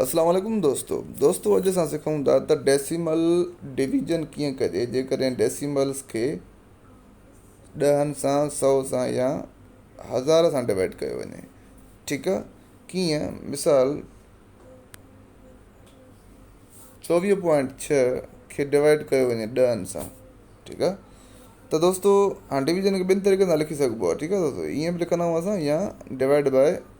السلام عليڪم دوستو دوستو اڄ اسان سکون ٿا ته ڊيسيمل ڊويزن ڪيئن ڪجي جيڪڏهن ڊيسيملس کي ڏهن سان سو سان يا هزار سان ڊوائيڊ ڪيو وڃي ٺيڪ آ ڪيئن مثال چوويهه پوائنٽ ڇهه کي ڊوائيڊ ڪيو وڃي ڏهن سان ٺيڪ آ ته دوستو هاڻي ڊويزن کي ٻن طريقن سان لکي سگهبو آ ٺيڪ آ دوستو ائين به لکندا آهيون اسان يا ڊوائيڊ باء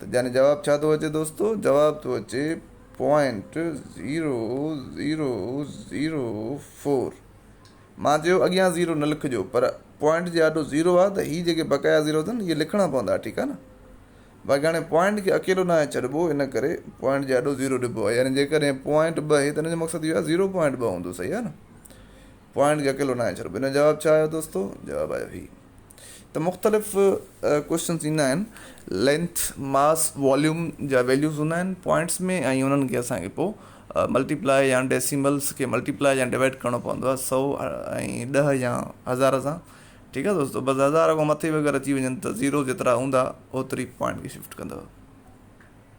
ته جاني جواب ڇا ٿو اچي دوستو؟ جواب ٿو اچي point zero zero zero four مان چيو اڳيان زيرو نه لکجو پر پوائنٽ جي آڏو زيرو آ ته هي جيڪي بقايا زيرو اٿن اهي لکڻا پوندا ٺيڪ آ نه باقي هاڻي پوائنٽ کي اڪيلو ناهي ڇڏبو ان ڪري پوائنٽ جي آڏو زيرو ڏبو آ يعني جيڪڏهن پوائنٽ ٻه هي ته ان جو مقصد اهو آ زيرو پوائنٽ ٻه هوندو صحيح آ نه پوائنٽ کي اڪيلو ناهي ڇڏبو ان جو جواب ڇا آيو دوستو جواب آيو هي ته مختلف ڪوشچنس ايندا آهن لينٿ ماس واليوم جا ويليوز هوندا آهن پوائنٽس ۾ ۽ انهن کي اسانکي پوء ملٽيپلاء يا ڊيسيملس کي ملٽيپلاء يا ڊيوائيڊ ڪرڻو پوندو آهي سؤ ۽ ڏهه يا هزار سان ٺيڪ آهي دوستو بس هزار کان مٿي وغيره اچي وڃن ته زيرو جيترا هوندا اوتري پوائنٽ کي شفٽ ڪندو